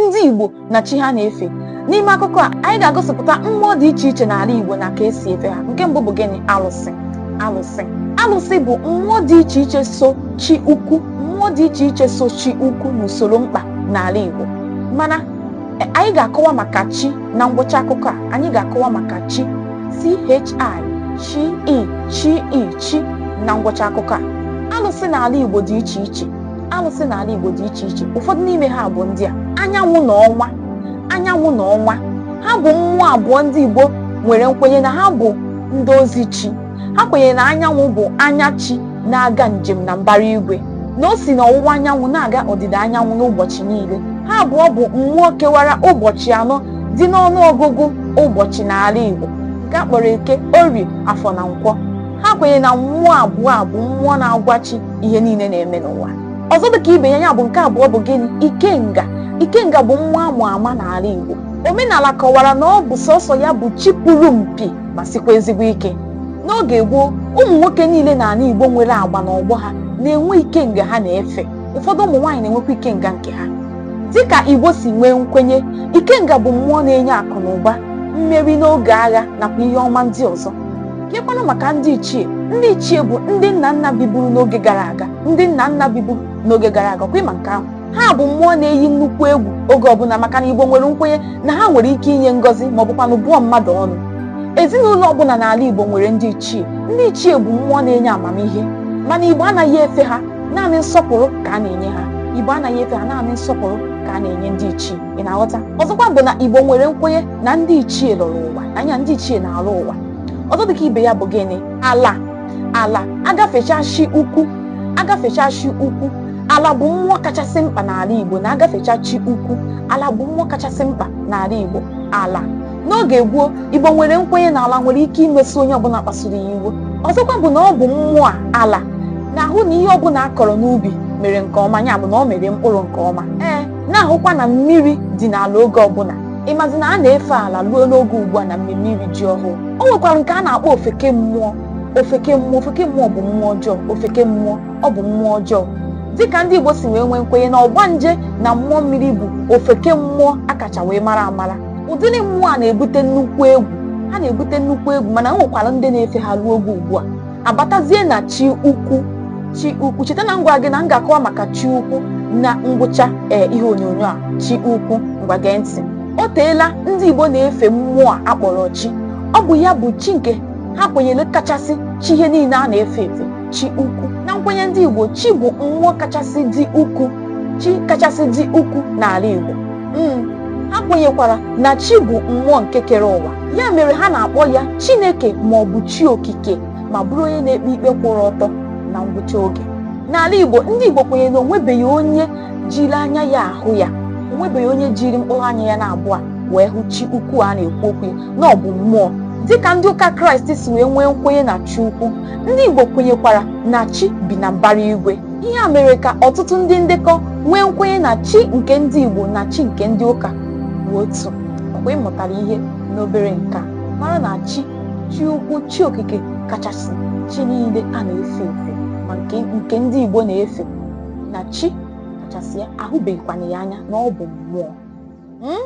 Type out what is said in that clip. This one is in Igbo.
ndị Igbo na chi ha na-efe n'ime akụkọ a anyị ga-agosipụta mmụọ dị iche iche n'ala Igbo na ka esi efe ha nke mbụ bụ gịnị alụsị alụsị alụsị bụ mmụọ dị iche iche so chi ukwu mmụọ dị iche iche so chi ukwu n'usoro mkpa n'ala Igbo mana e, anyị ga-akọwa maka chi na ngwụcha akụkọ a anyị ga-akọwa maka chi chi e, chi i chi i chi na ngwụcha akụkọ a alụsị n'ala Igbo dị iche iche alụsị n'ala Igbo dị iche iche ụfọdụ n'ime ha bụ ndị a anyanwụ na ọnwa anyanwụ na ọnwa ha bụ mmụọ abụọ ndị Igbo nwere nkwenye na ha bụ ndị ozi chi ha kwenyere na anyanwụ bụ anya chi na-aga njem na mbara igwe na o si n'ọwụwa anyanwụ na-aga ọdịda anyanwụ n'ụbọchị niile ha abụọ bụ mmụọ kewara ụbọchị anọ dị n'ọnụ ọgụgụ ụbọchị n'ala Igbo nke a kpọrọ eke orie afọ na nkwọ ha kwenyere na mmụọ abụọ a bụ mmụọ na-agwa chi ihe niile na-eme n'ụwa ọzọ dịka ibe ya ya bụ nke abụọ bụ gịnị ikenga ikenga bụ mmụọ ama ama n'ala Igbo omenala kọwara na ọ bụ sọsọ ya bụ chi puru mpi ma sikwa ezigbo ike n'oge gboo ụmụ nwoke niile n'ala Igbo nwere agba n'ọgbọ ha na-enwe ikenga ha na-efe ụfọdụ ụmụ nwaanyị na-enwekwa ikenga nke ha dịka Igbo si nwee nkwenye ikenga bụ mmụọ na-enye akụ na ụba mmeri n'oge agha nakwa ihe ọma ndị ọzọ Kekwanụ maka ndị ichie ndị ichie bụ ndị nna nna biburu n'oge gara aga ndị nna nna biburu n'oge gara aga kwa ị ma nke ahụ ha bụ mmụọ na-eyi nnukwu egwu oge ọbụla maka na Igbo nwere nkwenye na ha nwere ike inye ngọzi ma ọ bụkwanụ bụọ mmadụ ọnụ ezinụlọ ọbụla n'ala Igbo nwere ndị ichie ndị ichie bụ mmụọ na-enye amamihe mana Igbo anaghị efe ha naanị nsọpụrụ ka a na-enye ha Igbo anaghị efe ha naanị nsọpụrụ ka a na-enye ndị ichie ị na-aghọta ọzọkwa bụ na Igbo nwere nkwenye na ndị ichie lọrọ ụwa anya ndị ichie na-alọ ụwa ọzọ dịka ibe ya bụ gịnị ala ala a gafecha chi ukwu a gafecha chi ukwu ala bụ mmụọ kachasị mkpa n'ala igbo na a gafecha chi ukwu ala bụ mmụọ kachasị mkpa n'ala igbo ala n'oge gboo igbo nwere nkwenye na ala nwere ike imesi onye ọbụla kpasuru ya iwe ọzọkwa bụ na ọ bụ mmụọ a, ala na-ahụ na ihe ọbụla a kọrọ n'ubi mere nke ọma ya bụ na ọ mere mkpụrụ nke ọma ee na-ahụkwa na mmiri dị n'ala oge ọbụla ị mazi na a na-efe ala ruo n'oge ugbu a na mmemme iri ji ọhụụ o nwekwara nke a na-akpọ ofeke mmụọ ofeke mmụọ ofeke mmụọ bụ mmụọ ọjọọ ofeke mmụọ ọ bụ mmụọ ọjọọ dịka ndị Igbo si wee nwee nkwenye na ọgbanje na mmụọ mmiri bụ ofeke mmụọ a kacha wee mara amara ụdịrị mmụọ a na-ebute nnukwu egwu ha na-ebute nnukwu egwu mana o nwekwara ndị na-efe ha ruo oge ugbu a abatazie na chi ukwu chi ukwu cheta na m gwa gị na m ga-akọwa maka chi ukwu na ngwụcha ee ihe onyonyo a chi ukwu ngwa gee ntị o teela ndị Igbo na-efe mmụọ a akpọrọ chi ọ bụ ya bụ chi nke ha kwenyere kachasị chi ihe niile a na-efe efe chi ukwu na nkwenye ndị Igbo chi bụ mmụọ kachasị dị ukwu chi kachasị dị ukwu n'ala Igbo Mm, ha kwenyekwara na chi bụ mmụọ nke kere ụwa ya mere ha na-akpọ ya chineke ma ọ bụ chi okike ma bụrụ onye na-ekpe ikpe kwụrụ ọtọ na ngwụcha oge n'ala igbo ndị igbo kwenyere na o nwebeghị onye jiri anya ya ahụ ya o nwebeghị onye jiri mkpụrụ anya ya na-abụọ wee hụ chi ukwu a na-ekwu okwu ya na ọ bụ mmụọ dịka ndị ụka kraịst si wee nwee nkwenye na chi ukwu ndị igbo kwenyekwara na chi bi na mbara igwe ihe a mere ka ọtụtụ ndị ndekọ nwee nkwenye na chi nke ndị Igbo na chi nke ndị ụka bụ otu ọkwa ị mụtara ihe n'obere nke a mara na chi chi ukwu chi okike kachasị chi niile a na-efe efe ma nke nke ndị Igbo na-efe na chi kachasị ya a hụbeghịkwana ya anya na ọ bụ mmụọ Hmm?